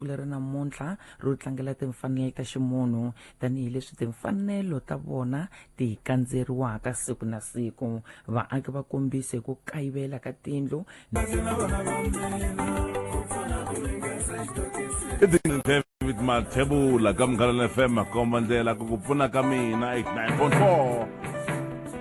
leri namuntlha ro tlangela timfanelo ta ximunhu tanihi leswi timfanelo ta vona ti kandzeriwaka siku na siku vaaki va kombise hi ku kayivela ka tindlu david mathebula ka mughalana fm makomba ndlela ku ku pfuna ka mina 89.4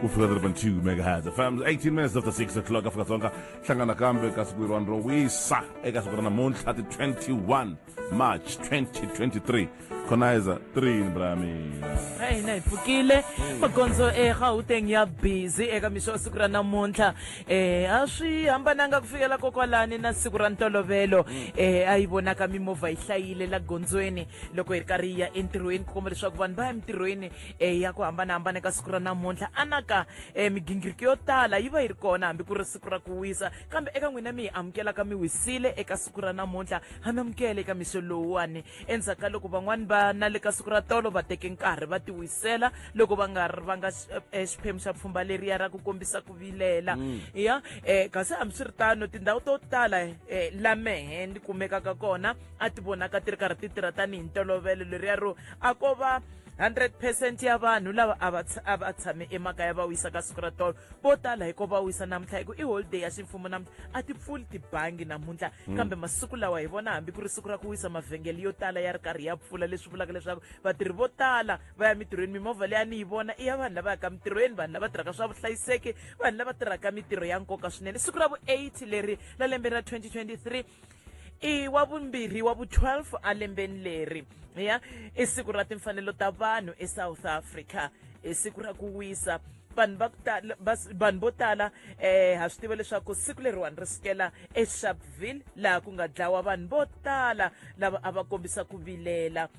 ku fika 3.2 megahertz fm 18 minutes after 6 o'clock afrika dzonga hlangana nakambe ka siku leriwani ro wisa eka siku ra namuntlha ti 21 march 2023 khonaiza 3 bra mina a hina hi pfukile magondzo egauteng ya busy eka mixo wa siku ra namuntlha um a swi hambananga ku fikela kokwalani na siku ra ntolovelo um a yi vonaka mimovha yi hlayile la gondzweni loko hi ri karhi yi ya entirhweni ku komba leswaku vanhu va ya emintirhweni um ya ku hambanahambana eka siku ra namuntlha anaka um migingiriko yo tala yi va yi ri kona hambi ku ri siku ra ku wisa kambe eka n'wina mi hi amukelaka mi wisile eka siku ra namuntlha ha mi amukele eka mixo lowuwani endzhaku ka loko van'wani va na le ka siku ra tolo va teke nkarhi va tiwisela loko va nga ri va nga eh, xiphemu xa pfhumba leriya ra ku kombisa ku vilela mm. ya um eh, kasi hambiswiritano tindhawu to tala um eh, la mehe ni kumekaka kona a ti vonaka ti ri karhi ti tirha tanihi ntolovelo leriya ro a ko va 100 percent ya vanhu lava a va a va tshame emakaya va wisa ka siku ra tolo vo tala hiko va wisa namuntlha hi ku i holiday ya ximfumo namuntlha a ti pfuli tibangi namuntlha hmm. kambe masiku lawa hi vona hambi ku ri siku ra ku wisa mavhengele yo tala ya ri karhi ya pfula leswi vulaka leswaku vatirhi vo tala va ya mitirhweni mimovha leyi a ni yi vona i ya vanhu lava yaka mitirhweni vanhu lava tirhaka swa vuhlayiseki vanhu lava tirhaka mitirho ya nkoka swinene siku ra vu-8 leri la lembe ra 2023 i wa vumbirhi wa vu-12 alembeni leri ya i siku ra timfanelo ta vanhu esouth africa i siku ra ku wisa vanhu va ku tala vanhu vo tala um ha swi tiva leswaku siku leriwani ri sukela esharpville laha ku nga dlawa vanhu vo tala lava a va kombisa ku vilela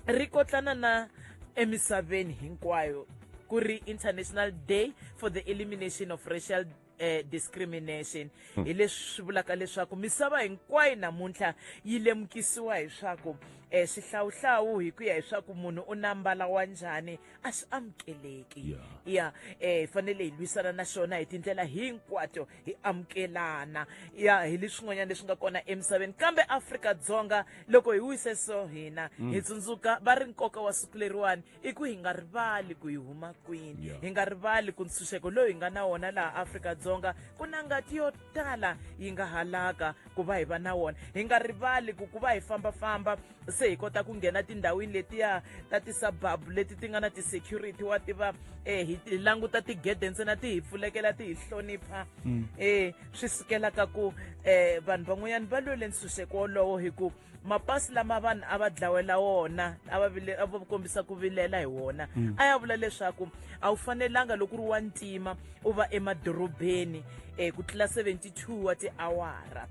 ri kotlana na emisaveni hinkwayo ku ri international day for the elimination of racial eh, discrimination hmm. hi leswi swi vulaka leswaku misava hinkwayo namuntlha yi lemukisiwa hi swaku eh, swihlawuhlawu hi ku ya hi swaku munhu u na mbala wa njhani a swi amukeleki ya eh, hi fanele hi lwisana na xona hi tindlela hinkwato hi amukelana ya hi leswin'wanyana leswi nga kona emisaveni kambe afrika dzonga loko hi wise so hina hi hmm. tsundzuka va ri nkoka wa siku leriwani i ku hi nga rivali ku hi huma kwini yeah. hi nga rivali ku ntshunxeko lowu hi nga na wona laha afrika-dzonga ku na ngati yo tala yi nga halaka ku va hi va na wona hi nga rivali ku ku va hi fambafamba se hi kota ku nghena tindhawini letiya ta tisababu leti ti nga na ti-security wa tiva um eh, hi languta tigede ntsena ti hi pfulekela ti hi hlonipha um mm. eh, swi sukelaka ku um vanhu van'wanyana va lwele ntshunxeko wolowo hi ku mapasi lama vanhu a va dlawela wona a va vile a va kombisa ku vilela hi wona mm. a ya vula leswaku a wu fanelanga loko ri wa ntima u va emadorobeni um ku tlula 72 wa tiawara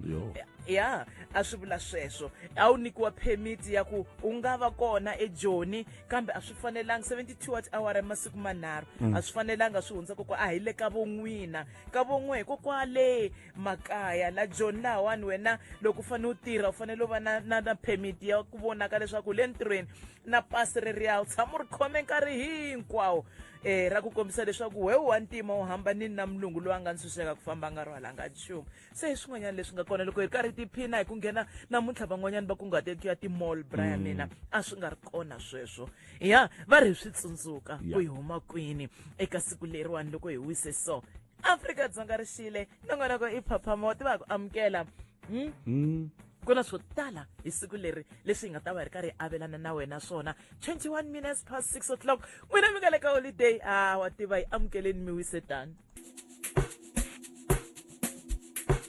ya a swi vula sweswo a wu nyikiwa permit ya ku u nga va kona ejoni kambe a swi fanelanga 72 wa tiawara ya masiku manharhu mm. a swi fanelanga swi hundza kokwa a hi le ka von'wina ka von'we hikokwale makaya la joni lahawani wena loko u fanele u tirha u fanele u va na na na permit ya ku vonaka leswaku le ntirhweni na pasi ri riya u tshama u ri khome nkarhi hinkwawo um ra ku kombisa leswaku we wa ntima u hamba nini na mulungu loyi a nga ntshunxeka ku famba nga rhwalanga nchumu se hi swin'wanyana leswi nga kona loko hi karhi tiphina hi ku nghena namuntlha van'wanyana va kunguhateni ku ya timall bra ya mina mm. a swi nga ri kona sweswo ya va ri hi swi tsundzuka ku hi huma kwini eka siku leriwani loko hi wise so afrika-dzonga ri xile nongonoko i phapha mo tiva ku amukela hmm? Hmm. ku na swo tala hi siku leri leswi hi nga ta va hi ri karhi hi avelana na wena swona 21 minutes past 6 o'clock n'wina mi nga le ka holiday a ah, wa tiva yi amukeleni mi wise tani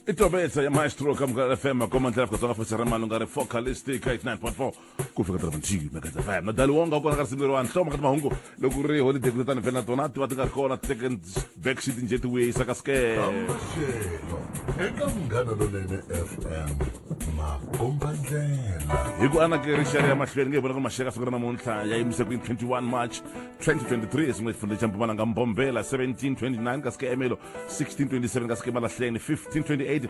itobetsa ya maestro kamukela fm akomandlela kutsonga futhi ra malunga ri focalistic 89.4 ku fika tala manthivi mekatsa fm na dali wonga kona ka risimu leriwani hloma ka timahungu loko ku ri holiday kule tani vhela na tona ti va ti nga ri kona second back sheet nje ti wisa ka scam maxelo eka munghana lonene fm makomba ndlela hi ku anake rixaka ya mahlweni nge hi vona ku maxelo ka siku ra namuntlha ya yimise ku 21 march 2023 esin'we xifundza xa mpumalanga mbombela 1729 ka sikemelo 1627 ka sikemalahleni 1528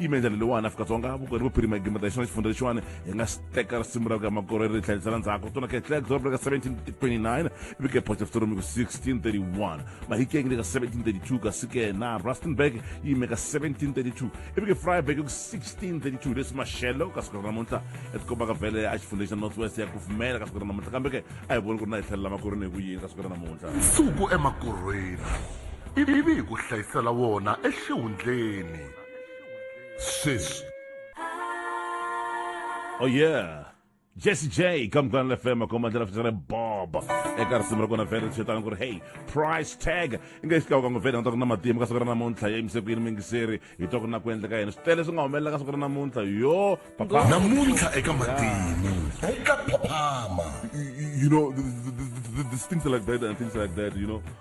yime ndlela leyiwani afrika-dzonga vukorheri vuphirima gima ta xona xifundza lexiwani hi nga xi teka risimu ra ku ya makorheri ri tlhelisela ndzhaku tona ke tlhela doroba leka 1729 vike phoxa vutoromiko 1631 mahikeng leka 1732 kasi ke na rustenburg yi yime ka 1732 ivike freiburg ku 1632 leswi maxelo ka siku ra namuntlha etikomba ka vhele a xifundza xa north west ya kufumela ka siku ra namuntlha kambe ke a hi voni ku ri na hi tlhelela makorheni hi ku yini ka siku ra namuntlha nsuku emakorhweni ivi hi ku hlayisela wona exihundleni Sis. Oh yeah. Jesse J come on the FM come on the FM Bob e ka risimu ra kona vele ri xetana ku ri hey price tag i nge xikawuka ngo vele nga ta ku na matimba ka siku ra namuntlha ya yimise ku yini mingiseri hi twa ku na ku endleka yena swi tele swi nga humelela ka siku ra namuntlha yo papa namuntlha eka matimu eka papama you know the, the, the, the, the things like that and things like that you know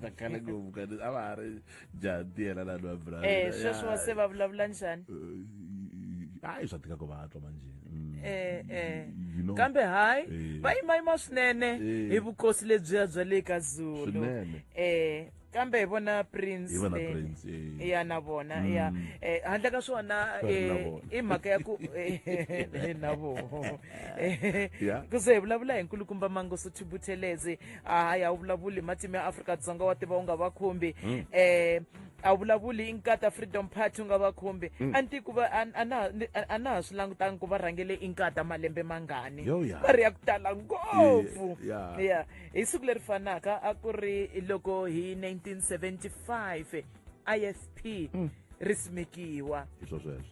ta khala ngopfu ka a va ha ri jati yena lani wa bra eh sweswo se va vulavula njhani hayi eh, swa tika ku va twa manje mm. eh eh kambe hayi eh. va yimayima swinene eh. hi vukosi lebyiya bya le ka zulu eh kambe hi vona prince eh. ya na vona ya mm. eh, handle ka swona eh, i mhaka ya ku na vona ku ze hi vulavula hi nkulukumba mangoso thibuthelezi hayi a wu vulavuli hi matimu ya afrika-dzonga wa tiva u nga va khumbi um a wu vulavuli hi nkata freedom party u nga va khumbi a ni ti ku va a- a na- ni- a- a na ha swi langutangi ku va rhangele i nkata malembe mangani Yo, ya. va ri ya ku tala ngopfu Eh, ya. ya hi siku leri fanaka a ku ri loko hi 1975 isp mm. ri simekiwa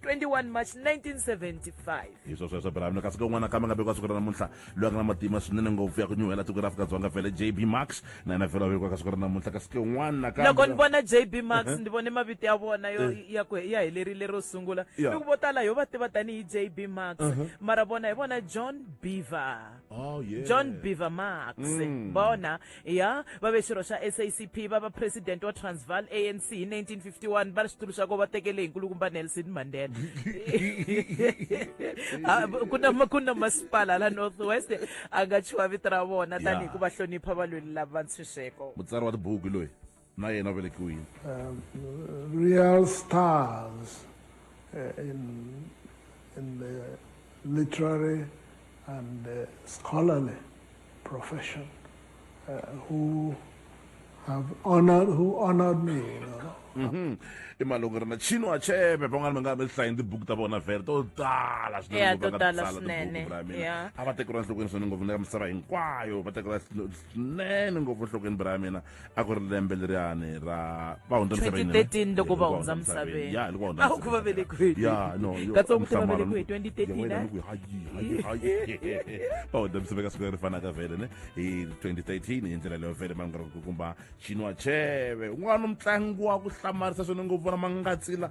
21 march 1975 hi swo sweswo bravo kasi kon'wana kambe nga vekiwa siku ra namuntlha loyi a nga na matima swinene ngopfu ya ku nyuhela tiko ra afrika dzonga vhele jb max na yena vhele wa vekiwa ka siku ra namuntlha kasi kon'wana loko ni vona jb max uh-huh. ni vone mavito ya vona yo eh. ya ku ya helerile ro sungula ni ku vo tala yo va tiva tanihi jb max uh-huh. mara vona hi vona john beaver oh, john beaver max mm. vona ya va ve xirho xa sacp va va president wa transval anc hi 1951 va ri xitulu xa ko va tekele hi nkulukumba nelson mandela ah, ku na ku na masipala la north west a nga chuha vito ra vona tanihi ku va hlonipha valweli lava ntshunxeko mutsari wa tibuku loyi na yena u velekiwe yini um, real stars uh, in, in the literary and uh, scholarly profession uh, who have honored who honored me you know mm-hmm. i malungu ri na chino achebe van'wana va nga va hlayi tibuku ta vona vhele to tala swinene a va tekeriwa enhlokweni swinene ngopfu na ka misava hinkwayo va tekeriwa swinene ngopfu enhlokweni bra ya mina a ku ri lembe leriyani ra va hundza misaveni 2013 loko va hundza misaveni ya loko va hundza a ku va velekiwe ya no katsongo ti va velekiwe 2013 va hundza misaveni ka siku leri fanaka vele ne hi 2013 hi ndlela leyo vele va nga ri ku kumba xinwa cheve un'wana mutlangi wa ku hlamarisa swinene ngopfu vona mangatsila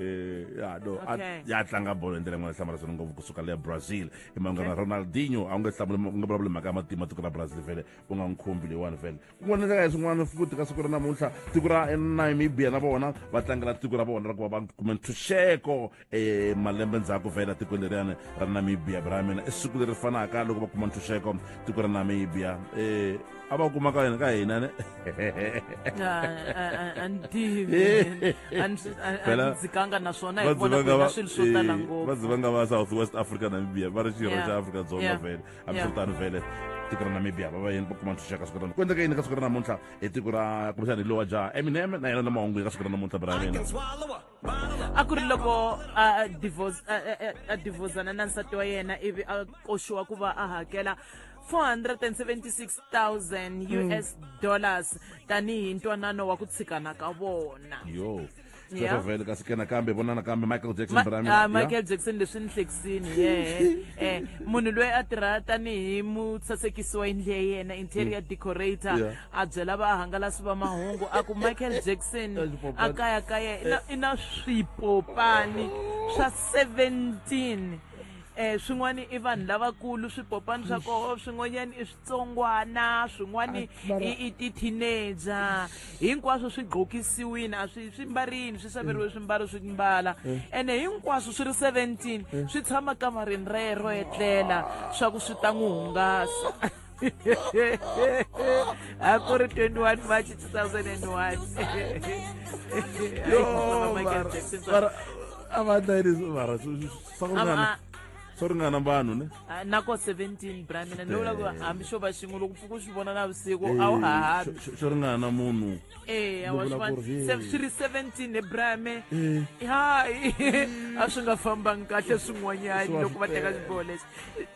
Eh, ya no okay. ya tlanga bolo hi ndlela yin'wana hlamala swona ngopfu kusuka le brazil i manghana okay. ronaldinho a wu nge hlamuli u nge vulavuli mhaka ya matima tiko ra brazil vhele u nga n'wi khumbi leyiwani vhele kun'wana ndlela ya swin'wana futhi ka siku ra namuntlha tiko ra namibia na vona va tlangela tiko ra vona ra ku va va kume ntshunxeko um eh, malembe ndzhaku vhele tiko leriyani ra namibia bra mina i siku leri fanaka loko va kuma ntshunxeko tiko ra namibia um a va kuma ka ka hina ne antivikanga naswona hi vona ku swilo swo tala ngopfu va dzivanga va south west africa namibia va ri xirho xa afrika dzonga vele hambi swo tano vele tiko ra namibia va va yini va kuma ntshunxeka siku rana ku endleka yini ka siku ra namuntlha hi tiko ra kumbexana hi lowa jaha eminem na yena na mahungu yi ka siku ra namuntlha bra mina a ku ri loko a divhozana na nsati wa yena ivi a koxiwa ku va a hakela 476,000 mm. US dollars tanihi ntwanano wa ku tshikana ka vona yo Yeah. vele kasi ke nakambe vona nakambe michael jackson Ma, brami uh, michael yeah. jackson leswi ni hlekisini ye eh, munhu loyi a tirha tanihi mutsasekisi wa yindlu ya yena interior mm. decorator yeah. a byela vahangalasi va mahungu a ku michael jackson a kaya kaya i na, i na swipopani swa 17 eh swin'wana i vanhu lavakulu swipopani swa koho swin'wanyana i switsongwana swin'wana i i ti-teenager hinkwaswo swi gqokisiwini a swi swi mbarini swi saveriwe swimbalo swi mbala ene hinkwaswo swi ri 17 swi tshama kamareni rero etlela swa ku swi ta n'wi hungasa a ku ri 21 march 2001 swa ringana vanhu ne ah, na ko 17 bra mina ni vula ku eh. hambi xo va xin'we loko pfuka u swi vona na vusiku a wu eh, hahabi xo ringana munhu eh, swi ri 17 he brame hayi a swi nga fambangi kahle swin'wanyani loko va teka xiboho lexi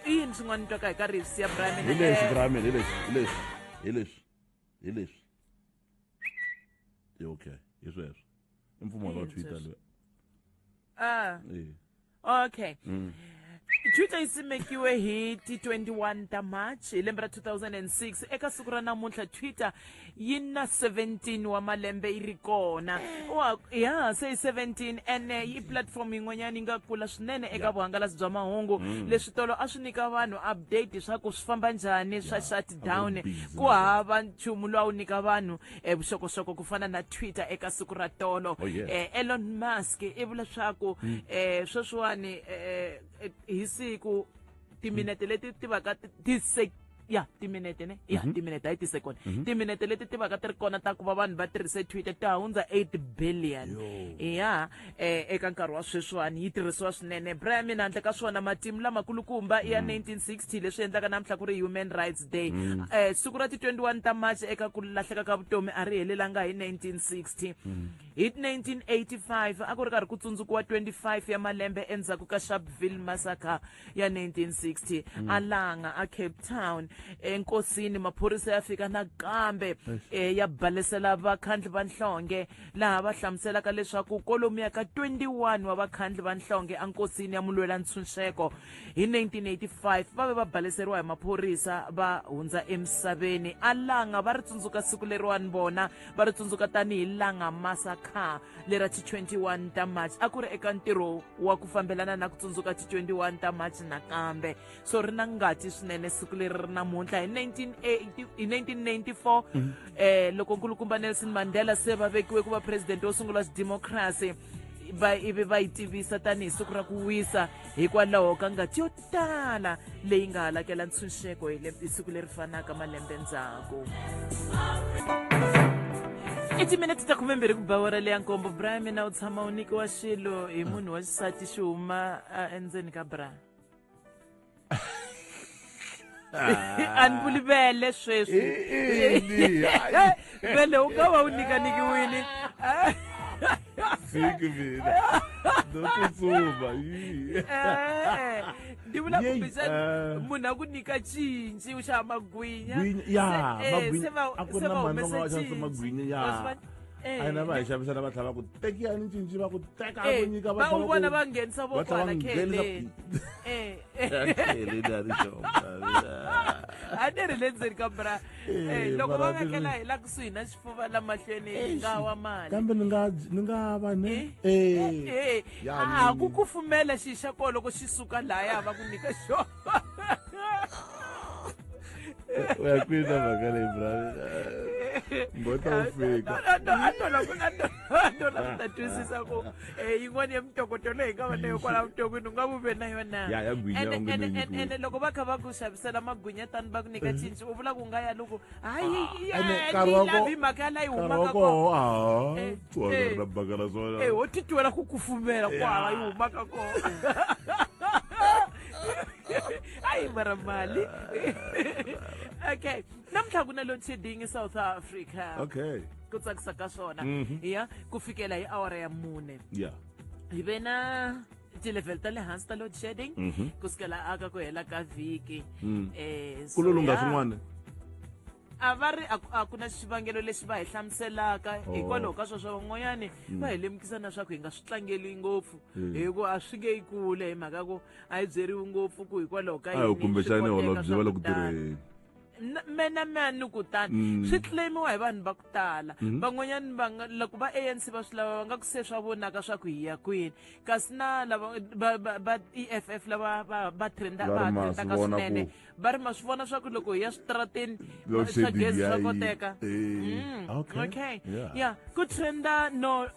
i yini swin'wana twaka hi ka rivs ya bramin hi leswi bramin hi leswi hi leswi hi leswi hi leswi i okay hi sweswo i mpfumalo wa twitter loyi ah okay mm. twitter yi simekiwe hi ti 21 ta march hi lembe ra 2006 eka siku ra namuntlha twitter yi na 17 wa malembe yi ri kona wa ya se yi 17 ene eh, yi platform yin'wanyana yi nga kula swinene eka vuhangalasi bya mahungu mm. leswi tolo a swi nyika vanhu update leswaku swi famba njhani swa shutdown ku hava nchumu lowu a wu nyika vanhu eh, vuxokoxoko ku fana na twitter eka siku ra tolo oh, eh, elon musk i vula leswaku mm. sweswiwani hi siku timinete leti ti vaka ti se ya timinete ne ya mhm. timinete hayi ti-second mhm. timinete leti ti vaka ti ri kona ta ku va vanhu va tirhise twitter ti hundza 8 billion ya eh, eka nkarhi wa sweswiwani yi tirhisiwa swinene bra ya mina handle ka swona matimu lamakulukumba ya 1960 mhm. leswi endlaka namuntlha ku ri human rights day um siku ra ti-21 ta march eka ku lahleka ka vutomi a ri helelanga hi 1960 Hi 1985 a ku ri karhi ku tsundzukiwa 25 ya malembe endzhaku ka Sharpeville massacre ya 1960 mm. a langa a Cape Town enkosini maphorisa ya fika nakambe eh, ya balesela vakhandli va nhlonge laha va hlamuselaka leswaku kolomu ya ka 21 wa vakhandli va nhlonge enkosini ya mulwela ntshunxeko hi 1985 va ve va baleseriwa hi maphorisa va hundza emisaveni a langa va ri tsundzuka siku leriwani vona va ri tsundzuka tanihi langa masakha lera ti 21 ta march a ku ri eka ntirho wa ku fambelana na ku tsundzuka ti 21 ta march nakambe so ri na ngati swinene siku leri ri namuntlha hi 1994 mhm. eh loko nkulukumba nelson mandela se va vekiwe ku va president wo sungula xidemokhrasi va ivi va yi tivisa tanihi siku ra ku wisa hikwalaho ka ngati yo tala leyi nga halakela ntshunxeko hi siku leri fanaka malembe ndzhaku i timinete ta khume mbirhi ku ba wara leya nkombo bra mina u tshama u nikiwa xilo hi munhu wa xisati xi huma endzeni ka bra a ni vuli vele sweswi vele u nga va u nyikanikiwile siki mina ndokutsuma ndi vula kumbexani munhu a ku nyika cinci u xava magwinya se va humesa cinci magwinya ya Eh. a hina va hi xavisela va tlhela va ku tekiyani cinci va ku teka a ku eh, nyika va vona va nghenisa vokwana khele a ni ri le ndzeni ka bra eh, eh, loko va vekela hi la kusuhi na xifuva la mahlweni hi eh, nga wa mali kambe ni nga ni nga va ni a ku kufumela xi xa ko loko xi suka laya va ku nyika xona u ya kwini na mhaka leyi bra mbota wu fika a tola ku ta twisisa ku Eh, yin'wana ya mintokoto leyi nga va na yo kwala vuton'wini u nga vu ve na yona Ya, ya gwinya, Ene- u nge ene- nyikiwi. ene- ene loko va kha va ku xavisela magwinya tani va ku nyika cinci u vula ku nga ya loko hayi ene nkarhi wa ko- lavi mhaka ya la yi nkarhi wa humaka kona koho aha Eh, tswaka eh. ri na baka la swona Eh, ho titwela ku kufumela kwala yi humaka kona hayi mara mali okay namuntlha ku na load shedding esouth africa okay ku tsakisa ka swona mhm. ya ku fikela hi awara ya mune ya hi ve na ti-level ta le hansi ta load shedding mhm. ku sukela aka ku hela ka vhiki um ku lolunga swin'wana a va ri a ku na xivangelo lexi va hi hlamuselaka oh. hikwalaho ka sweswo van'wanyani mm. va hi lemukisa na swa ku hi nga swi tlangeli ngopfu mm. hi ku a swi nge yi kule hi mhaka ku a yi byeriwi ngopfu ku hikwalaho ka yini kumbexani holobye va le ku tirheni na- mena mani ku tani Mm. swi claimiwa hi vanhu va ku tala Mhm. van'wanyani va nga- loko va anc va swi lava va nga ku se swa vonaka swa ku hi ya kwini kasi na lava va- va- va eff lava va- va trenda Va ri va ma swi trendaka vona swinene ku- va ri ma swi vona swa ku loko hi ya switarateni Load swa shedding gezi ya swa yi- koteka eh, Mm, okay, okay yeah. yeah ku trenda no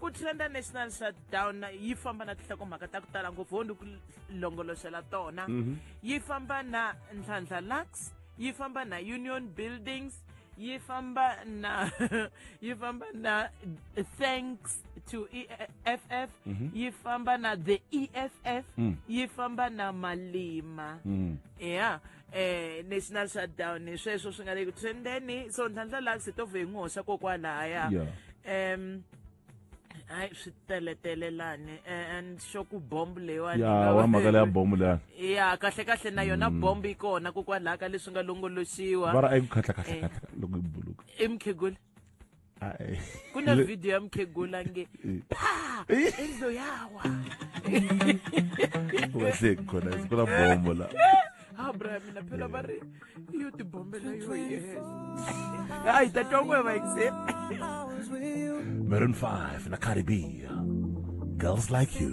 ku trenda national shutdown yi famba na tinhlakomhaka ta ku tala ngopfu ho ni ku longoloxela tona mhm. yi famba na ntlhantlha lux yi famba na union buildings yi famba na yi famba na thanks to eff mhm. yi famba na the eff mm. yi famba na malima mm. ya eh national shutdown hi sweswo swi nga le ku and then so ntlhantlha laha se to vhe n'wi hoxa kokwalahaya Yeah. um hayi swi teletele lani eh, and xo ku bomb leyiwani ya wa mhaka leya bomu leya ya kahle kahle na yona bomb yi kona kokwalaha ka leswi nga longoloxiwa va ri a yi ku khatlakhatlakhatla loko yi buluka i mukhegula kuna video ya mukhegula nge pha enzo yawa waseki khona kuna bombo la ha bra mina phela va ri yo tibombela yo yena hayi ta twa n'we vaikse Maroon 5 na Caribbean. Girls like you.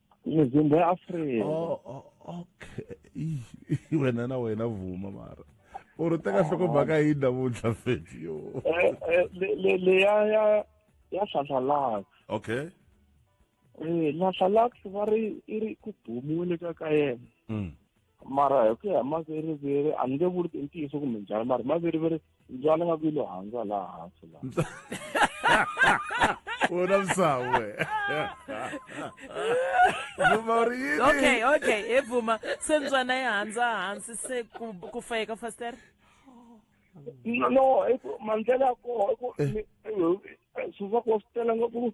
muzimbo ya afrika oh, oh, okay wena na wena vuma mara u ri teka hloko baka yi namuntlha feti yo eh, eh, leya ya ya hlanhlalaka okay eh hlanhlalaka va ri i ri ku bumiwile ka ka yena mm. mara hi ku ya maveriveri a ni nge vuli i ntiyiso kumbe njhani mara maveriveri ndzwana nga ku yi lo handza laha hansi la wona msawe vuma ri yini okay okay he bvuma se ndzwana yi handza hansi se ku ku fayeka faster no no mandlela ya koho i ku eh. eh, eh, swivaku wa swi tela ngopfu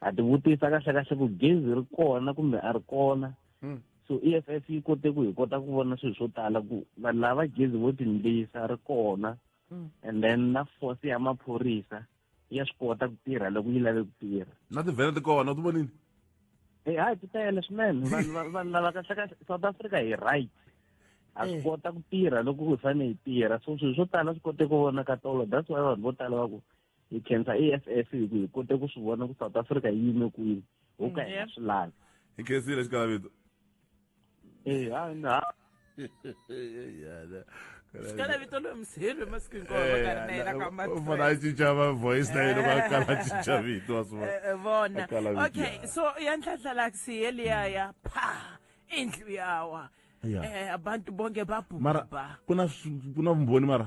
ha ti vutisa kahle kahle ku gezi ri kona kumbe a ri kona hmm. so e f f yi kote ku hi kota ku vona swilo swo tala ku vanhu lava gezi vo tindlisa ri kona hmm. and then na force ya maphorisa ya swi kota ku tirha loko yi lave ku tirha na tivhele ti kona u ti vonini e eh, hayi ti tele swinene vanhu lava kahle kahle south africa hi right a swi eh. kota ku tirha loko ku fanele hi tirha so swilo swo tala swi kote ku vona ka tolo that's why vanhu vo tala va ku hi khensa e f f hi ku hi kote ku swi vona ku south africa yi yime kwini ho ka hi nga swi lavi hi khensile xikalavito e ha na xikalavito loyi msirhi masiku hinkwawoona a cinca va voice na yena va kala cinca vito wa swi vona eh, eh, okay so ya ntlhantlhalaksi yeliya ya pha indlu yawa eh, abantu bonke babhubha mara ku na vumbhoni mara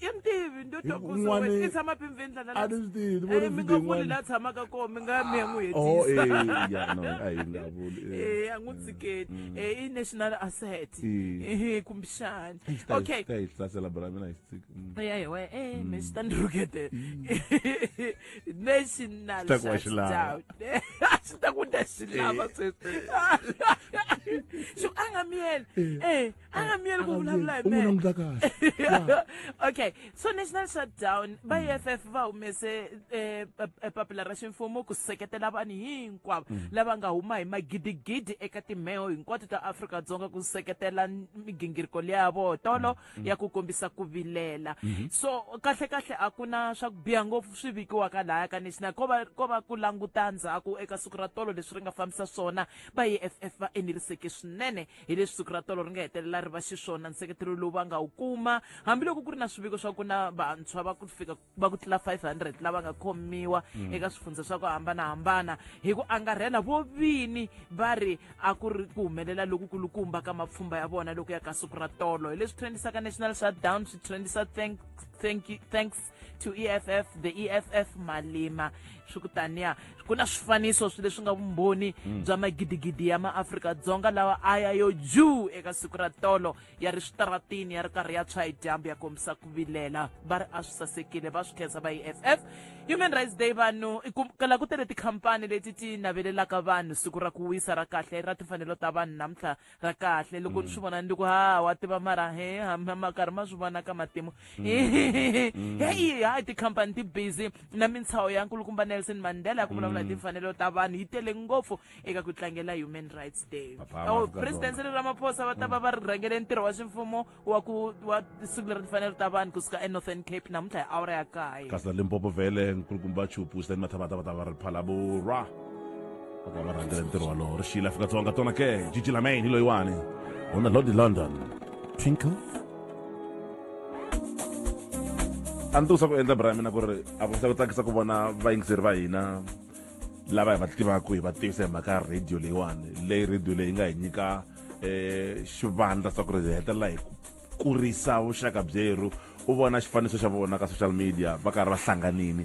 ya mi tivi ndo twakusowe i tshama pimveni dlana a ni swi tivi ni vona mi nga vuli la tshamaka kona mi nga mi ya n'wi hetisa a hi nga vuli e a n'wi tsiketi e i national asset e kumbexani okay ta hi hlasela bra mina hi tsiki ya hi we e mi swi ta ni rhukete national ta ku wa xilava swi ta ku ta xilava sweswi xo a nga mi yena e a nga miyeli ku vulavula hi mehe okay so national shutdown va mm. eff va humese eh, eh, eh, papila ra ximfumo ku seketela vanhu hinkwavo mm. lava nga huma hi magidigidi eka timheho hinkwato ta afrika dzonga ku seketela migingiriko leya vo tolo mm. ya ku kombisa ku vilela mm-hmm. so kahle kahle a ku na swa ku biha ngopfu swi vikiwaka lahaya ka national ko va ko va ku languta ndzhaku eka siku ra tolo leswi ri nga fambisa swona va eff va enerisekile swinene hi leswi siku ra tolo ri nga hetelela ri va xiswona nseketelo lowu va nga wu kuma hambiloko ku ri na swiviko swa ku na vantshwa va ku fika va ku tlula 500 lava nga khomiwa mm. eka swifundza swa ku hambanahambana hi ku angarhela vo vini va ri a ku ri ku humelela lokukulukumba ka mapfhumba ya vona loko ya ka siku ra tolo hi leswi trendisaka national shutdown swi trendisa thank, thank, thanks to EFF the EFF Malema swi ku taniya ku na swifaniso swi leswi nga vumbhoni hmm. bya magidigidi ya maAfrika-Dzonga lawa a ya yo juu eka siku ra tolo ya ri switaratini ya ri karhi ya tshwa hi dyambu ya kombisa ku vilela va ri a swi sasekile va swi khensa va EFF Human Rights Day vanhu ku kala ku tele tikhampani leti ti navelelaka vanhu siku ra ku wisa ra kahle ra timfanelo ta vanhu namuntlha ra kahle loko ni mm. swi vona ni ku ha wa tiva mara he makarhi ma swi vona ka matimu mm. mm. heyi hayi tikhampani ti busy na mintshaho ya nkulukumba nelson mandela ya ku vulavula hi timfanelo ta vanhu yi tele ngopfu eka ku tlangela human rights day oh, president sele ramaphosa va ta va va rhangele ntirho wa ximfumo wa ku wa siku leri ni fanele ta vanhu kusuka enorthern cape namuntlha hi awara ya kaye kasi na limpopo vhele nkulukumba chupu sitani mathavatavata va ri phalabura va ta va rhangela ntirho walowo ri xiyile afrika-dzonga tona ke jiji lamain hi loyiwani hona lodi london twinkle a ni tikusa ku endla bra ya mina ku ri a vonisa ku tsakisa ku vona vayingiseri va hina lava hi va tivaka hi va tivisa hi mhaka ya radio leyiwani leyi radio leyi nga hi nyika eh xivandla swa ku ri hetelela hi kurisa vuxaka byeru u vona xifaniso xa vona ka social media va karhi va hlanganini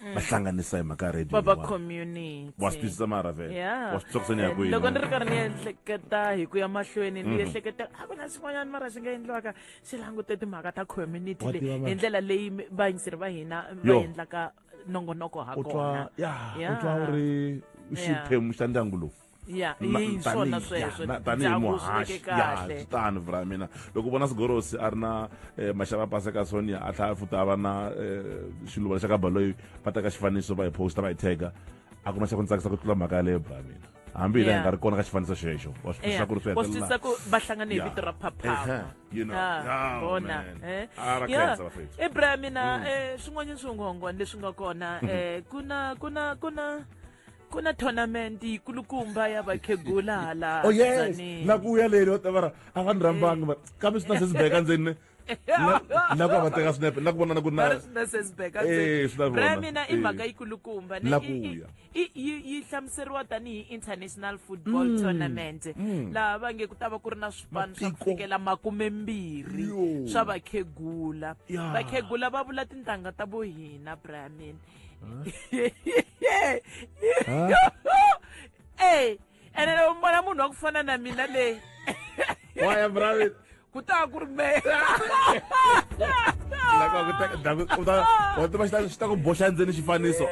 va mm. hlanganisa hi mhaka radio baba community wa swi twisisa mara vele wa swi tsakisa ni ya kwini loko ni ri karhi ni ehleketa hi ku ya mahlweni ni mhm. ehleketa a ku na swin'wanyana mara swi nga endliwaka swi langute timhaka ta community le hi ndlela leyi vayingiseri va hina va endlaka nongonoko ha kona ya u twa u ri xiphemu xa ndyangu lowu ya Ma- hi swona tanihi- ya, sweswo na- tanihi ndyangu swi veke muhaxi ya kahle swi tano vra mina loko vona sigorosi a ri na eh, maxava pase ka sonia a tlhaya futa a va na eh, xiluva lexa ka baloyi va teka xifaniso va hi posta va hi tega a ku na xa ku ni tsakisa ku tlula mhaka yaleyo bra mina hambi hi la hi Yeah. nga ri kona ka xifaniso xexo wa swi twisisa ku ri swi wa swi hetelela twisisa ku va hlangane hi Yeah. vito ra phaphama Ehe, you know. Ah, Yeah, vona man. eh. Ah, ra Yeah. khensa bafethu. Eh, bra mina eh, swin'wanyana swinghonghwana leswi nga kona eh, ku na ku na ku na ku na tournament yikulukumba ya vakhegula hala oh yes Tzaneen. na ku ya leni va ta va ra a va ni rhambanga va kambe swi na se swi beka ndzeni na- na ku va va teka swinepe na ku vonana ku ri na Va ri swi na se swi beka Eh, ntsena. swi na Bra ya vona. mina i Eh. mhaka yikulukumba ni- Na i- ku i- ya. i- yi yi hlamuseriwa tanihi international football Mm. tournament Mm. laha va nge ku ta va ku ri na swipano swa ku Matiko. fikela makumembirhi Yo. swa vakhegula Ya. vakhegula va vula tintangha ta vo hina bra ya mina ey ene loko vona munhu wa ku fana na mina leyi waya bravi ku ta ku ri meya tiva xi ta ku boxa ndzeni xifaniso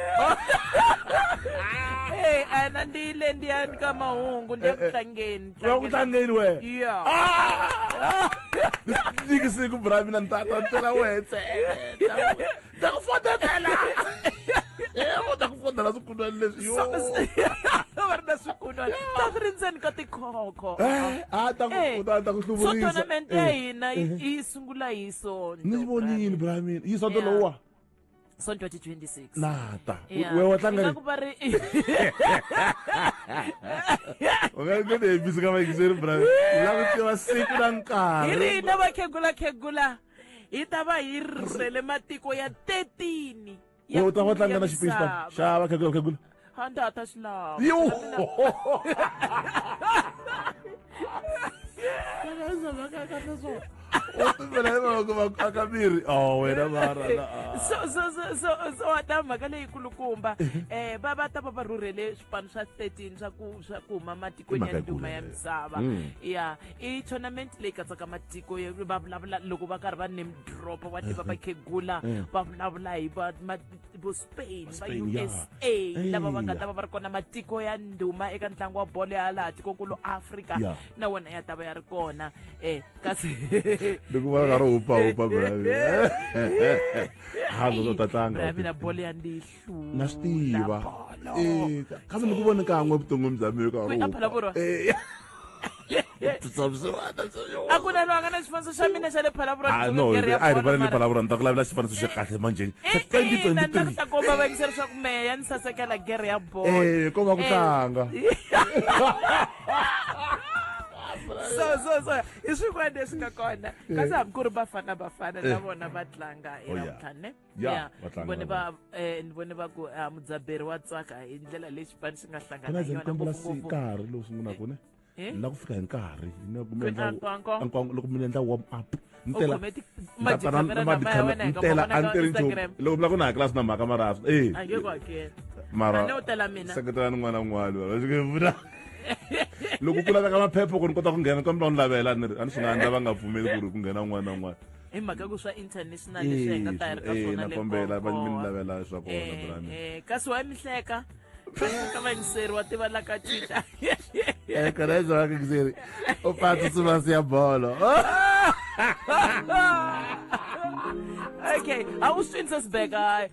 ena ndi yile ndi ya ka mahungu ndi ya ku tlangeni wa ku tlangeni wena ya ndzi siku bra mina ni ta ta tela wena ta ku fodela u ta ku fodela swikunwana leswi yo va ri na swikunwana ta swi ri ndzeni ka tikhokho eh, a ta ku eh, ta ku hluvurisa so tournament ya eh, hina yi sungula hi sonto ni vonile bra mina yi sonto lowa son 2026 nata we wa tlanga ku va ri unga ku ne bisi ka va yingiseri bra la ku tiva siku na nkarhi hi ri na va khegula khegula hi ta va hi rhurhele matiko ya 13 ya u ta va tlanga na xipisi xipano xava khegula khegula a ndzi ta xi lava yo aka miri oh, wena so wa ta mhaka leyikulukumba um va va ta va va rhurhele swipano swa 13 swa ku swa ku huma matikweni ya nduma ya misava ya i tournament leyi katsaka matiko ya- va vulavula loko va karhi va name drop wa tiva vakhegula va vulavula hi va ma- vo spain va Spain, yeah. usa lava va nga Eya. ta va va ri kona matiko ya ndhuma eka ntlangu wa bolo ya laha tikonkulu afrika Yeah. na wona ya ta va ya ri kona um kasi loko va karhi hupa hupa ha loko ta tlanga mina bolo ya ndihlo na swi tiva Eh, ka- kambe ni ku voni kan'we evuton'wini bya mina ka Kwi- a phela vurwa. a ku na loyi a nga na xifaniso xa mina xa le phalabura Ah, no a hi rivala ni palavura ni ta ku lavela xifaniso xa kahle manjeni xa ina ni ta ku ta komba va yingisela leswaku mehe ya ni sasekela gere ya bolo Eh, ko va ku Eh. tlanga so so so i swin'wana leswi nga kona kasi hambi ku ri bafana bafana na vona va tlanga Oh, yeah. elamtlhane ya vone va eh, ni vone va ku ah, mudzaberi wa tsaka hi ndlela leyi xipani xi nga hlangana hi yona ngopfungopfu nkarhi lowu sungula eh, kune eh? ni la ku fika hi nkarhi loko mi endla warm up ntela a ni teri nchumu loko mi la ku na hakela swi na mhaka mara e mara seketela ni n'wana un'wana va swi vula loko ku laveka maphepha ku ni kota ku nghena kambe va ni lavela ni ri a ni swi nga endla va nga pfumeli ku ri ku nghena un'wana na un'wana hi mhaka ku swa international leswi hi nga ta yi ri ka eh, swona le kombela va mi lavela swa kona eh, brand eh kasi wa mihleka ka va ngiseri wa tiva la ka twitter eh kana swa ka ngiseri o phatsa suma siya bolo okay awuswini sesibheka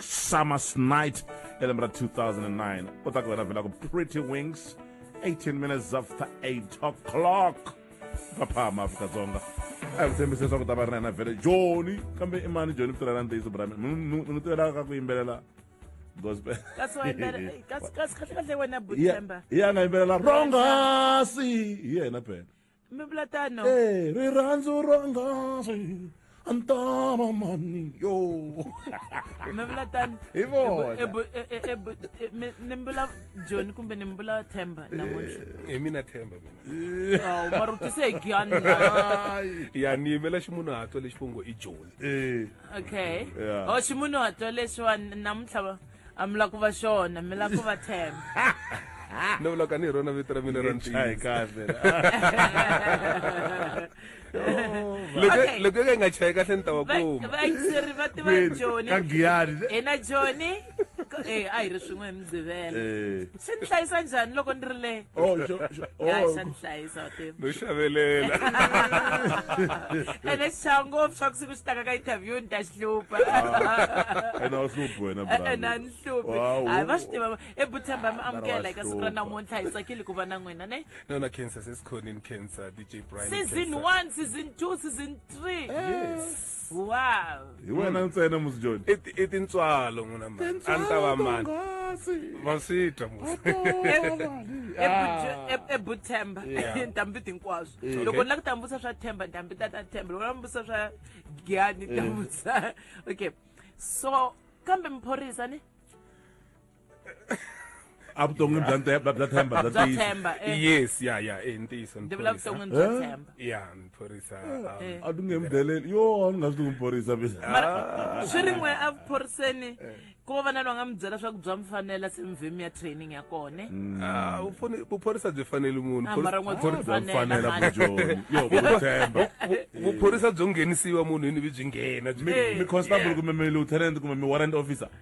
Summer's Night elembe ra 2009 u ta ku wena vhela ku Pretty Wings 18 minutes after 8 o'clock maphama afrika-dzonga a hi ku tshembise leswaku ta va ri na yena vhele joni kambe i mani joni kutirhela ntiyiso brami n'wi tivelaka ka ku yimbelela gospelkasikahle wena butemba hi ya nga yimbelela rongasi hi yena phela mi vula tano Eh, rirhandzu ra ngasi a ni tava mani yo mi vula tano Hi vona. E bu- e- e- e bu- e- mi- ni mbula john kumbe ni mbula themba namuntlha hi mina themba mina awu mara u tise hi giyani Ai. ya ni yimela ximunhuhatwa lexi vongo i joni Eh, okay Yeah. o ximunhu hatwa leswiwani namuntlha va- a mi la ku va xona mi la ku va themba no vula ka ni hi rona vito ra mina ra ntiyisiloko ka yi nga chayi kahle ni ta wa kumaeri va tiva joni hina joni a hi ri swin'we hi mugqivela se ni hlayisa njhani loko ni ri le oh, oh. xa ni hlayisa no xavelela ene xa ngopfu swa ku siku xi taka ka interview ni ta xi hlupha ah, ene a wu hluphi wena ene a ni hluphi hayi va swi tiva ebutshemba mi amukela eka siku ra namuntlha hi tsakile ku va na n'wina ne nona cancer sesikhonini cancer dj brian season one season two season three yes wow hi wena hmm. ntsena musi john i tintswalo n'wina mani a ni ta va mani va swi twa ebuthemba ntambi tinkwaswo loko ni la ku tambutsa swa themba ntambi ta ta themba loko na mbusa swa giyani tambutsa okay so kambe miphorisa ni a vuton'wini bya nte- bya bya themba bya Bya ntiyiso. Themba, eh. yes ya ya eh, ntiyiso ni ndzi vula phorisa. vuton'wini bya Eh? themba ya ni phorisa um, Eh. a ti nge mi deleli yo a ni nga swi tivi mphorisa mina mara swi ri n'we evuphoriseni ku va va na loyi a nga mi byela swa ku bya mi fanela se mi vhe mi ya training ya kone ah, u fane- vuphorisa byi fanele munhu Ah, Phorisa- mara n'we bya mi Bya mi fanela fanela mhani. bujoni yo kuthemba vu- vuphorisa byo nghenisiwa munhu yini byi byi nghena byi mi mi constable kumbe mi lieutenant kumbe mi warrant officer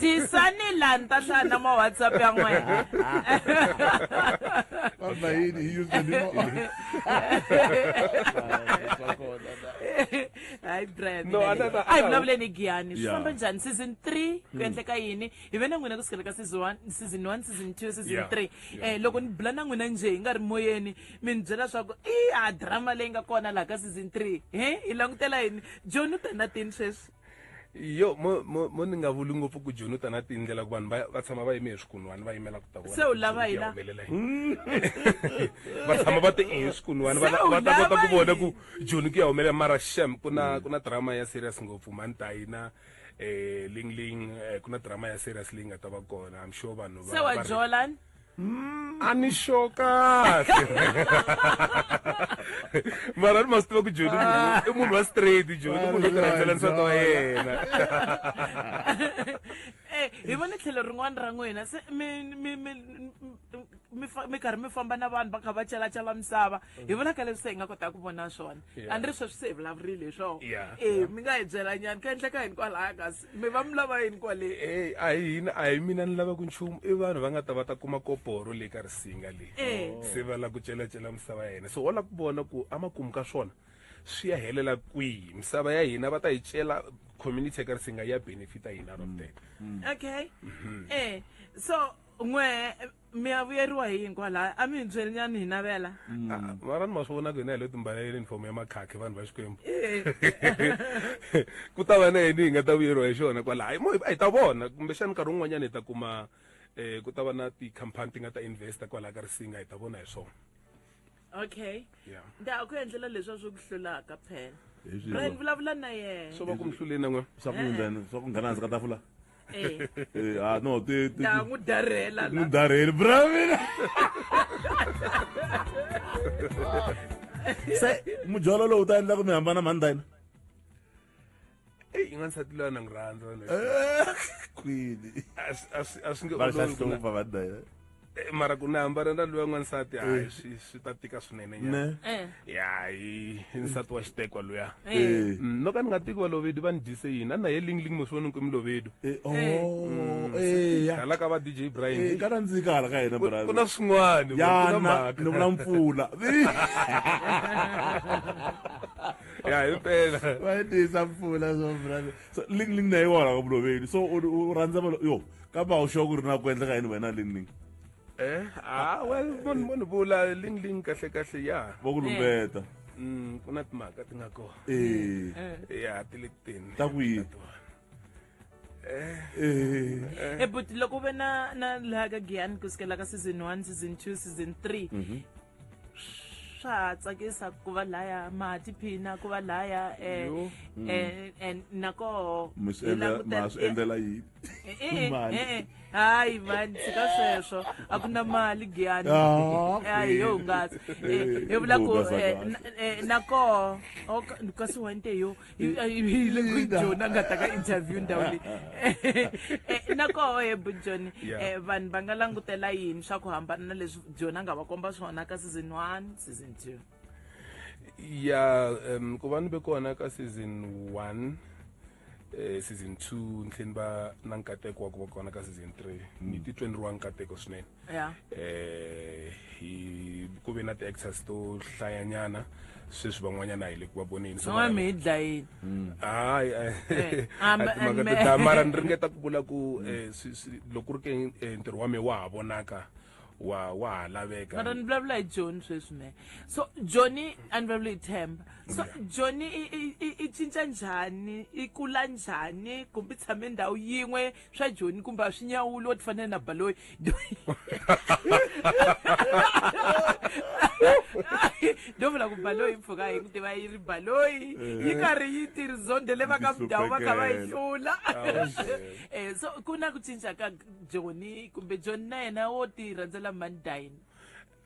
tisani laha ni ta hlaya na ma whatsapp ya n'wena Vamba yini hi username ma wena. hayi brian No, a na- na- a hi na- vulavuleni giyani swi Yeah. famba njhani season three ku endleka yini hi ve na n'wina ku sukela ka season one season one season two season Yeah. three eh loko ni bula na n'wina njhe hi nga ri moyeni mi ni byela swaku i a drama leyi nga kona laha ka season three he hi langutela yini john u ta na tini sweswi yo mo mo mo ni nga vuli ngopfu ku joni u ta na tindlela ku vanhu va tshama va yime hi swikunwani va yimela ku ta vona se u lava hi la va tshama va te i hi swikunwani va ta kota ku vona ku joni ku ya humelela mara shem ku na mm. ku na drama ya serious ngopfu mani ta yina um eh, ling ling eh, ku na drama ya serious leyi nga ta va kona i'm sure vanhu se wa jolan a ni xo kahle mara ni ma swi tiva ku joni ah. i munhu wa straight joni munhu wo tirhandzela nsati wa yena eh, hi vone tlhelo rin'wana ra n'wina se mi karhi mi famba na vanhu va kha va chalachala misava mm. hi vonaka leswi se hi nga kotaka ku vona swona a ni ri sweswi se hi vulavurile hi swona e mi nga hi byelanyani ka endleka hini kwalaya kasi me va mi lava yini kwale e a hi hina a hi mina ni lavaka nchumu i vanhu va nga ta va ta kuma koporo leyi ka risinga leyi eh. oh. se va la ku celacela misava ya hina so wa la ku vona ku a makumu ka swona swi ya helela kwihi misava ya hina va ta yi cela community ya ka risinga ya benefita hina ro mm. teka mm. okay mm-hmm. e so n'we mi ya vuyeriwa hi yini kwalaya a mi hi byeli nyani hi navela Ah, mara ni ma swi vonaka hina hi lo timbalela uniform ya makhakhi vanhu va xikwembu ku ta va na yini hi nga ta vuyeriwa hi xona kwala hayi mo hi hi ta vona kumbexana nkarhi wun'wanyana hi ta kuma um ku ta va na tikhampani ti nga ta investa kwalaha ka risinga hi ta vona hi swona okay Yeah. nda ku endlela leswa swi ku hlulaka phela Hi swihi brian lo? vulavula na yena swo va ku mi hluleni n'we swa ku yindzani swa ku nghena hansi ka tafula Eh, Eh, ah no ti ti nda n'wi darhela la mudarheli bravina se mujolo lowu ta endla ku mi hambana mhani ta yina eyi ingansati loyi anangirhandza kwini a swi nge olovihlupha vadaya eh, mara ku na hambana na loyi n'wansati eh. hayi swi swi ta tika swinene nyana eh. ya hi nsati wa xitekwa luya mm, no ka ni nga tiki valovedu va ni dyise yini a na ye lingling mosivoni ni kwimi lovedu oh, mm, hala ka va dj brian ka nandzika hala ka yena ku na swin'wana yana ni vula mpfula ya hi mpela va tisa mpfula so brother so ling ling na yi wona ka muloveli so u rhandza va yo ka ba u xo ku ri na ku endleka yini wena ling ling eh ah well mon mon bula ling ling kahle kahle ya vo ku lumbeta mm ku na timhaka ti nga kona eh ya ti le tini ta ku yini Eh, but loko ve na na laha ka giyani ku sukela ka season one season two season three swa ha tsakisa ku va laya ma ha tiphina ku va laya eh, Yo. eh, eh, nakoho hi misendla langutela- ma swi endlela yini Eh, eh, Mali. eh, eh. hayi mani tshika sweswo a ku na mali giyani Ah, okay. hayi yo hungasa Eh, Eh, hi vula ku hungasa eh, kahle. na- eh, nakoho kasi wente yo hi le ku jona nga ta ka interview ndhawu leyi eh, na koho he bujoni eh, vanhu va nga langutela yini swa ku hambana na leswi jona nga va komba swona ka season one season two ya um ku va ni ve kona ka season one eh, season two ntlheni va na nkateko wa ku va kona ka season three ni mm. titwe ni ri wa nkateko swinene yeah. eh hi ku ve na ti-actors to hlayanyana sweswi van'wanyana hi le ku va voneni van'wana mi hi dlayini hmm. hayi eh, eh, timhaka to dlaya mara ni ringeta ku vula ku eh, loko ri ke ntirho wa me wa ha vonaka wa wa ha laveka mara ni vulavula hi joni sweswi me so joni a ni vulavula hi themba so joni i cinca njhani i kula njhani kumbe i tshame ndhawu yin'we swa joni kumbe a swi nyawuli wo ti fanele na baloyi ndo vula ku baloyi mpfhuka hi ku tiva yi ri baloyi yi eh. karhi yi tirhi zonde le va ka mudhawu va kha va yi hlula um so ku na ku cinca ka joni kumbe joni na yena wo ti rhandzela mani dayini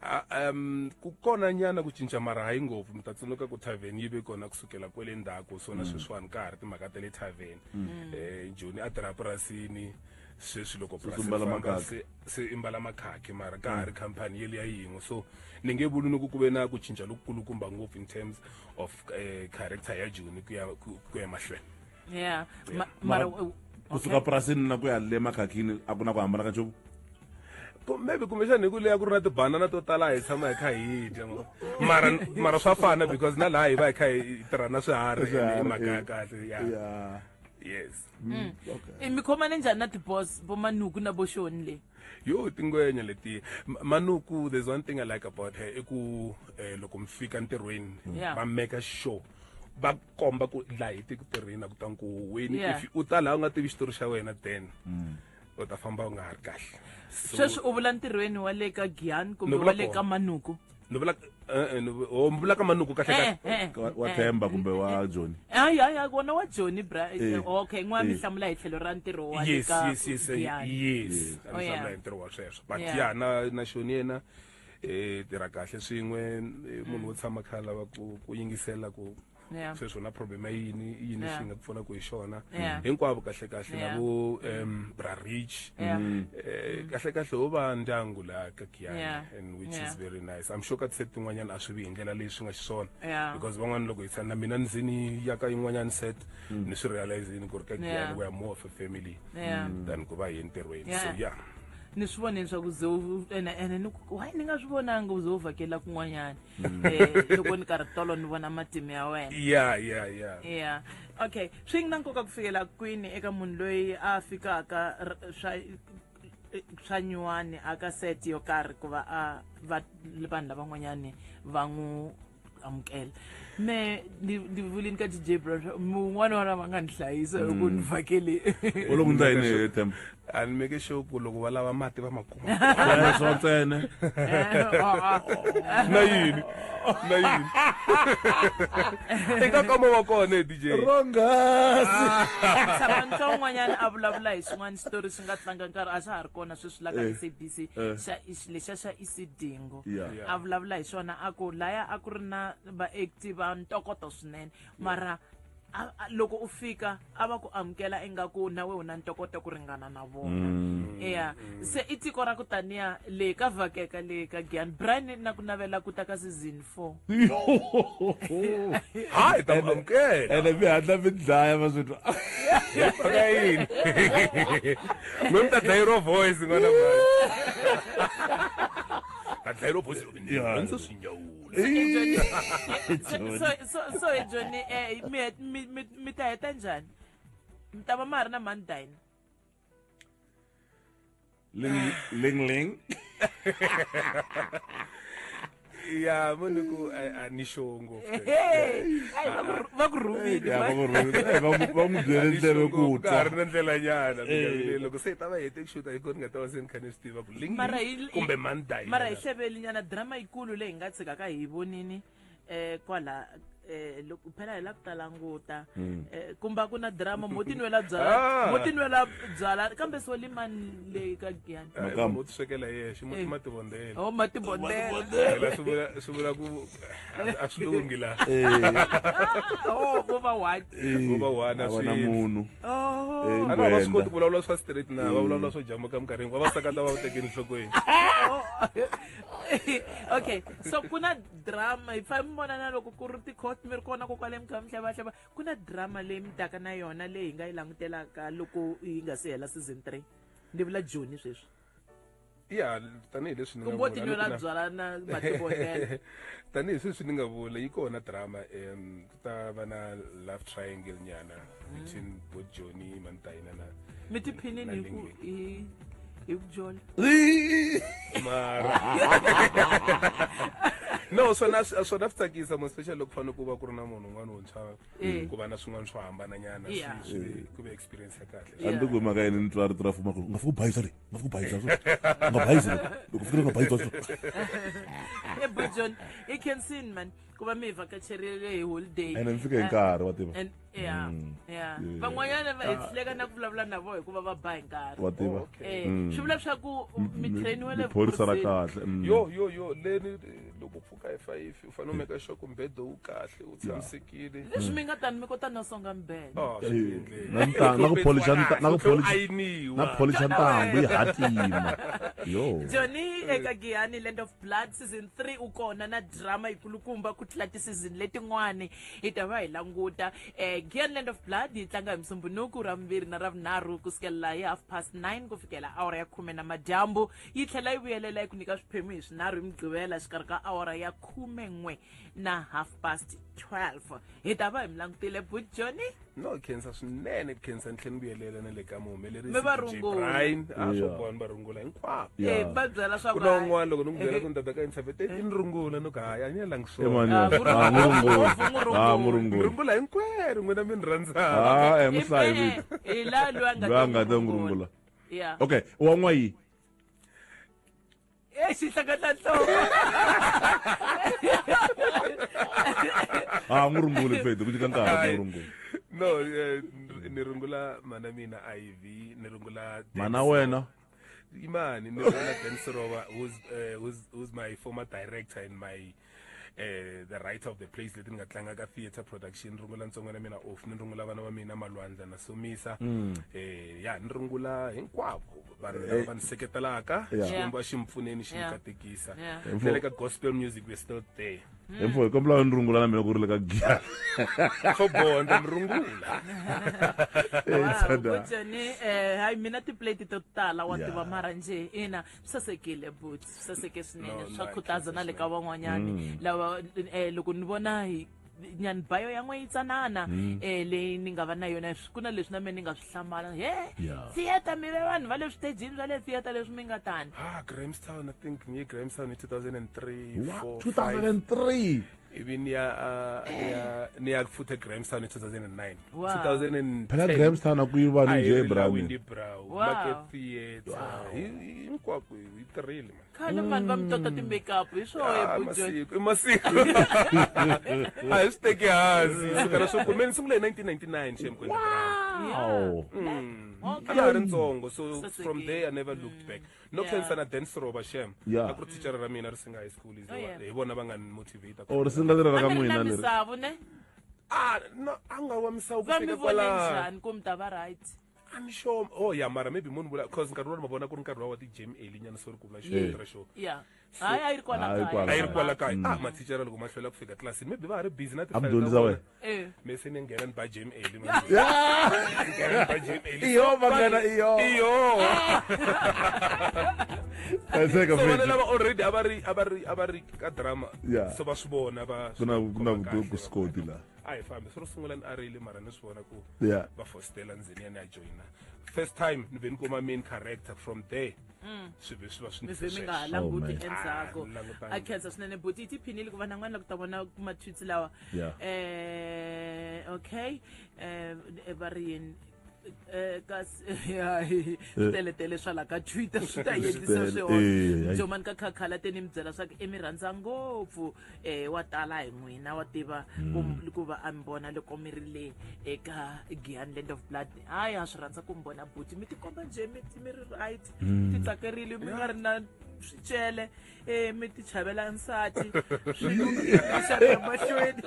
Ha, um ku kona nyana ku cinca mara hayi ngopfu mi ta tsundzuka ku tavern yi ve kona kusukela kwele ndzhaku so na sweswiwani ka ha ri timhaka ta le tavern um joni a tirha purasini sweswi loko purasi ri mbala famba makhakhi. se se i mbala makhakhi mara ka ha ri khampani yeli ya yin'we so ni nge vuli ni ku ku ve na ku cinca lokukulukumba ngopfu in terms of um character ya joni ku ya ku ku ya mahlweni yeah Ma- mara Mara- u- kusuka purasini na ku ya le makhakhini a ku na ku hambana ka nchumu Ku- maybe kumbexani hi ku leya ku ri na tibanana to tala hi tshama hi kha hi dya ma- mara mara swa fana because na laha hi va hi kha hi tirha na swiharhi Swiharhi, hi mhaka ya eh. kahle ya Yeah. yes Mm, okay. i mi khomane njhani na tibos vo manuku na vo xoni leyi yo tingwenya letiya Ma- manuku there's one thing i like about her i ku eh, loko mi fika ntirhweni Yeah. va meka sure va komba ku laha hi tiku tirhina ku ta nkuhuweni yeah. if u ta laha u nga tivi xitori xa wena then mm. u ta famba u nga ha ri kahle sweswi u vula ntirhweni wa le ka giyan kumbe wa le ka manuku ni vula eh, eh, oh, ni vula ka manuku kahle eh, wa themba kumbe wa joni ayaya wona wa joni bra okay n'wa mi hlamula hi tlhelo ra ntirho wa yes yes yes yes oh, mi hlamula hi ntirho wa sweswo but ya na na xoni yena yeah. hi tirha kahle swin'we eh, munhu wo tshama kha lava ku ku yingisela ku Yeah. sweswi na problem yini i yini Yeah. xi nga ku pfuna ku hi xona Yeah. hinkwavo kahle kahle Yeah. na vo um bra rich Yeah. Eh, kahle kahle ho va ndyangu laha ka Yeah. kiyana and which Yeah. is very nice i'm sure ka tise tin'wanyana a swi vi hi ndlela leyi swi nga xiswona Yeah. because van'wana loko hi tshana na mina ndzini ya ka yin'wanyana set ni swi realizini ku ri ka Yeah. kiyana we are more of a family Yeah. than ku va hi entirhweni so Yeah. yeah ni swi vone leswaku ze u ene ene ni ku hayi ni nga swi vonanga u ze u vhakela kun'wanyana um loko ni karhi tolo ni vona matimu ya wena ya ya ya ya okay swi na nkoka ku fikela kwini eka munhu loyi a fikaka r- swa swa nyuwani aka set yo karhi ku va a va vanhu lavan'wanyani va n'wi amukela me ni ni vulini ka dj brown mun'wana wana va nga ni hlayisa loko ni vhakele u loko ndza yini hi temba a ni make sure ku loko va lava mati va ma kuma Wena swo ntsena na yini na yini eka kama wa kona dj rongasi tshama ntswa un'wanyana a vulavula hi swin'wana xitori swi nga tlanga nkarhi a swa ha ri kona sweswi la ka sabc xa- lexa xa sidingo Yeah. Yeah. a vulavula hi swona a ku laya a ku ri na vaakti va ntokoto swinene mara a- a- loko u fika a va ku amukela ingaku nawe u na ntokoto ku ringana na vona eya se i tiko ra ku taniya le ka vhakeka le ka giyan brian na ku navela ku ta ka season for hayi ta n'wi amukela ene mi hatla mi dlaya va swi twa ka yini mi mi ta dlayi ro voice n'wana mani ta dlayi ro voice ndzi swi nyawula so hi joni eh, mi ta heta njhani mi ta va ma ha ri na mani dina Ling Ling Ling. ya munhu a ni show ngopfu va ku rhumile va n'wi byele ndleve ku twa a ri na ndlela nyana loko se hi ta va hete ku xuta hi koni nga ta va se ni kha ni swi tiva ku kumbe mandai mara hi hleveli nyana drama yikulu leyi hi nga tshikaka hi vonini eh kwala eh loko phela hi la ku ta languta hmm. eh kumba ku na drama mo tinwela byala ah. mo tinwela byala kambe so limani leyi ka giyani eh, mo tiswekela yexe mo eh. tima tibondela oh ma tibondela swi vula swi vula ku a swi lungi la eh. oh bo va one bo va one a swi munhu oh a va swi koti ku vulavula swa straight na va vulavula swo jamuka minkarhi hinkwayo va sakata va tekeni nhlokweni oh. okay so ku na drama hi fane mi vona na loko ku ri ti-court mi ri kona ko kwale mukha mihlavahlava ku na drama leyi mi taka na yona leyi hi nga yi langutelaka loko yi nga si hela season three ni vula joni sweswi ya tanihileswi tanihi sweswi ni nga vula yi kona drama um ta va na love triangle nyana between both Johnny Mantaina na mi tiphinini hi ku hi hi ku jola mara no swona swona swi tsakisa mo special loko fanele ku va ku ri na munhu un'wana wuntshwa Eh. ku va na swin'wana swo hambananyana swi- Yeah. swi- ku ve experience ya kahle Yeah. andiko mhaka yini ni twa rito ra fuma ku nga fiki u bayisa le nga fiki u bayisa so nga bayisa loko loko fikile nga bayisa so Hey, but John, you can sin, man. ku va mi hi vakacherile hi holiday ene mi fike hi nkarhi wa tiva and yeah Mm. yeah Yeah. van'wanyana va hi hluleka na ku vulavula na vona hikuva va ba hi nkarhi wa tiva Eh, Mm. swi vula leswaku mi trainiwe le phorisa ra vukhorhweni. kahle mm. yo yo yo leni eh, loko u pfuka hi fayifi u fanele u meka sure ku mbedo wu kahle u tshamisekile leswi mi nga tani mi kota no songa mbele Ah, Eh, swi- na nta- na ku polish nta- na ku Ku polish ayiniwa. na ku polish ntambu yi hatima yo joni eka giyani land of blood season 3 u kona na drama yikulukumba ku tlula tisizini letin'wani hi ta va hi languta eh, gian land of blood yi tlanga hi musumbunuku ra vumbirhi na ra vunharhu ku sukela hi half past 9 ku fikela awara ya khume na madyambu yi tlhela yi vuyelela yi ku nyika swiphemu hi swinharhu hi mugqivela xikarhi ka awara ya khume n'we na half past 12 hi ta va hi mi langutile bud joni no hi khensa swinene ku khensa ni tlhela ni vuyelela na le ka muhumelerisi Me va DJ rungula. Brian a swo Yeah. bohani va rungula hinkwavo Yeah. Eh, va byela swa ku ku na hayi. un'wana loko ni n'wi byela ku ni tata ka intervete i ni rungula ni ku hayi a ni yelangi Eh, swona mani, Ah, murungu- ah, murungu. murungu- Ah, ni murungu. rungula hinkwerhu n'wina mi ni rhandzaka Ah, eh, musayi Ife, vito. hi la loyi a nga Loyi a nga ta n'wi rungula. Yeah. okay wa n'wayi Ei, si hlaka ta nhloko. Ah, n'wi runguli Fedi, ku nyika nkarhi ku n'wi rungula. No, eh, ni rungula mana mina IV, ni rungula Mana wena? Imani, ni rungula Dan Sirova, who's, eh, who's, who's my former director in my eh the right of the place leti ni nga tlanga ka theatre production ni rungula ntsongo na mina off ni rungula vana va mina malwandla na somisa mm. eh ya ni rungula hinkwavo vanhu lava eh. va ni seketelaka xikwembu a xi mi pfuneni xi mi katekisa na le ka gospel music we're still there mm. hi mfo hi kombela ni rungula na mina ku ri le ka giya swo bondza ni rungula eh, eh, hayi mina tiplate to tala wa tiva mara njhe ina sasekile but saseke swinene swa khutaza na le ka van'wanyani mm. lava um loko ni vona hi nyani bayo ya n'we yitsanana um mm. eh, leyi ni nga va na yona ku na leswi na mina ni nga swi hlamala he theatre mi ve vanhu va le switejini swa le theatre leswi mi nga tani ah, grahamstown i think ngiye grahamstown hi 2003 2003 ibe niya uh, niya niya futhi eGrahamstown e2009 Wow. 2010 phela grahamstown akuyibani nje Ayirila ebrown Windy Brow Wow. Market Theatre Hi- hi- hinkwako yi tirhile man khale vanhu va mi tota ti-makeup hi swoho Ah, ebujon masiku i masiku a hi swi teki hansi sukela swo kumeni sungule hi 1999 shem kwenda brown Wow. a ha ri ntsongo so Sasekile. from there i never looked back no Yeah. cancer na dance roba shem Yeah. a ku ri thicara ra mina ri singa high school is Oh, yeah. hi vona va nga ni motivate or singa leri ra ka n'wina leri misavo ne ah no a nga wa misawu ku va mi fika vone kwala njhani ku mi ta va right I'm sure oh yeah mara maybe munhu vula cause nkarhi wolowo ma vona ku ri nkarhi wa wa ti-jam early nyana so ri ku vula Yeah. xo ra xo ya hayi a yi ri kwala A yi ri kaya. kwala. a yi ri kwala kaya ah mathicara loko ma hlwela ku fika tlilasini maybe va ha ri busy na A mi dyondzisa wena? Eh. me se ni nghena ni ba jam eli ma njhe. Ni nghena ni ba jam eli Iyo, So, vanghana, vanhu- iyo. iyo hlayiseka so vana mfethu lava already a va ri a va ri a va ri ka drama Yeah. so va swi vona va ku na ku na khoma kahle, ku skoti la a hi fambi swi ro sungula ni a rile mara ni swi vona ku Yeah. va fostela ndzeni ya ni ya joyina first time ni ve ni kuma main character from there Mm. swilo leswi va swi ndzi mi nga ha languti oh, endzhaku a khensa swinene buti yi tiphinile ku va na n'wana la ku ta vona matwitsi lawa um okay um va ri yini eh, kasi hayi teletele swa la ka twitter swi ta yendisa swihona jomani ka khakhala te ni mi byela swa ku i mi rhandza ngopfu um wa tala hi n'wina wa tiva ku hmm. va a mi vona loko mi ri le eka gian land of blood hayi ha swi rhandza ku mi vona buti mi tikomba njhe mi mi ri right mm. ti tsakerile mi nga ri na swicele um eh, mi ti chavela nsati swimahlweni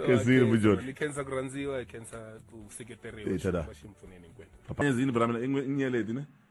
ezini bujoni ni khensa ku rhandziwa hi khensa ku seketeriwa xi pfuneni hinkwenu ezini bra mina inyeleti ne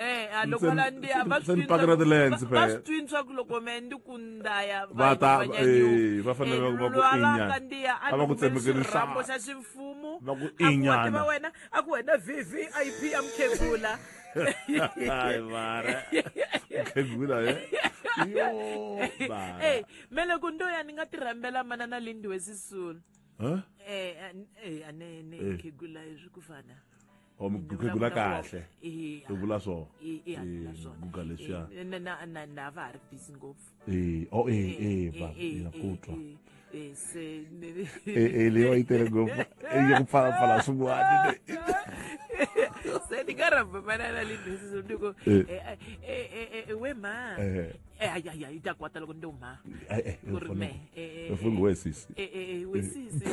Eh, a loko la ndi a va swi twini pakela swa ku- ti-lens, va- va phela. swi twini swa ku loko me ndi ku ndaya Va ta- eh, va fanele va- va ku inyana. kandiya a A va ku tsemekeli xirhambo xa nhlana. ximfumu Va ku a ku inyana. wativa wena a ku wena vvip ya mukhegula Ai, mara. Khegula, eh? Yo, mara. ey me loko ndo ya ni nga ti rhambela manana lindiwe sisulu Huh? Eh, an- eh, anene Eh. khegula hi swi ku fana or mi gugula kahle i vula so guga leswiya na va ha ri busy ngopfu e o e e ba ya kutwa se e leyo yi tele ngopfu e yi pfala pfala swin'wana se ni nga rhamba manana le busy so ni ko we ma ayaya yi ta kwata loko ni te u ma ku ri me we sisi we sisi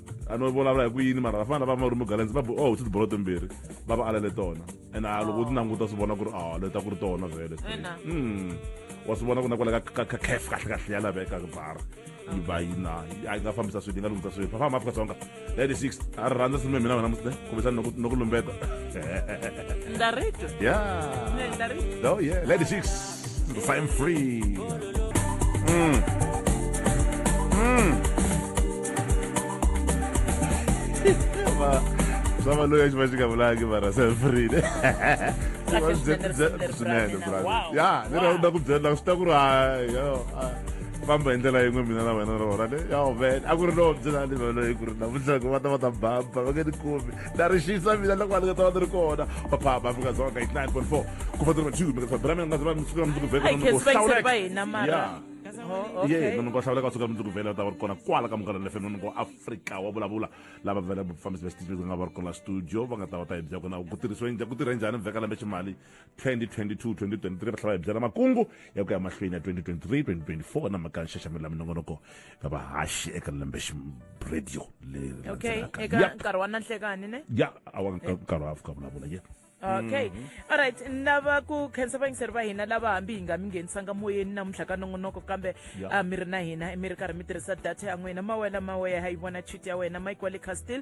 a no vulavula hi ku yini mara vafana lava va ri mugalenzi va oh ti bolo timbirhi va va alele tona and a loko u ti languta swi vona ku ri a leta ku ri tona vhele hmm. wa swi vona ku na kwala ka caf kahle kahle ya laveka bar yi va yi na a yi nga fambisa swilo yi nga lunghisa swilo fafamba afrika dzonga lady six a ri rhandza sini mina wena musle kumbexani no ku lumbeta ndarito ya lady six Fine free. Mm. Mm. Sava loyi a xi va xi nga vulanga mara se free ne Kahle swinene, swinene, swinene Bravo. bravo Wow. ya ni Wow. rhandza ku byela swi ta ku ri hayi yo a, famba hi ndlela yin'we mina na wena rona ne yo man a ku ri lowo byela ni vana hi ku ri navusiku va ta va ta bamba va nge ni kumi na ri xisa mina loko vanhu nga ta va ni ri kona vaphamba afrika dzonga 89.4 ku va tiri va-two mi nga tsabira mina nga tsaba mundzuku ya mundzuku vhele munhu ku hlawuleka ye munhu ku hlawuleka suka mundzuku vhele va ta va ri kona kwala ka munghana lefe munhu ku afrika wa vulavula lava vhele vafambisi va xitichi va nga va ri kona la studio va nga ta va ta hi byakona ku tirhisiwe ku tirhe njhani vheka lembe ximali 2022-2023 va tlhela va hi byela makungu ya ku ya mahlweni ya 2023-2024 na mhaka nxaxamelo ya minongonoko ya vahaxi eka lembe radio leri okay eka nkarhi wa nanhlekani ne ya awa nkarhi wa fika vulavula ye okay mm -hmm. alright ni lava ku khensa vayingiseri va hina lava hambi hi nga mi nghenisanga moyeni namuntlha ka nongonoko kambe yeah. uh, mi ri na hina mi ri karhi mi tirhisa data ya n'wina mawela maweya ha yi vona chit ya wena mike wa le castil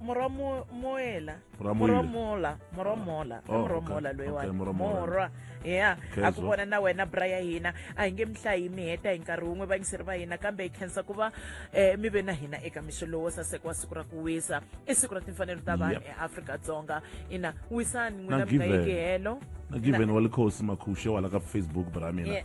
morwa mo- moela Morwa morwa moela. mola morwa mola Oh, morwa okay. mola loyi Okay, morwa mola. morwa ya Khenswa. a ku vona na wena bra ya hina a hi nge mi hlayi mi heta hi nkarhi wun'we vayingiseri va hina kambe hi khensa ku va um mi ve na hina eka mixo lowo saseka wa siku ra ku wisa i siku ra timfanelo ta vanhu Yep. eafrika-dzonga ina wisani n'wina Na mi nga Given. yeki helo na given wa likhosi makhushe wala ka facebook bra mina Yeah.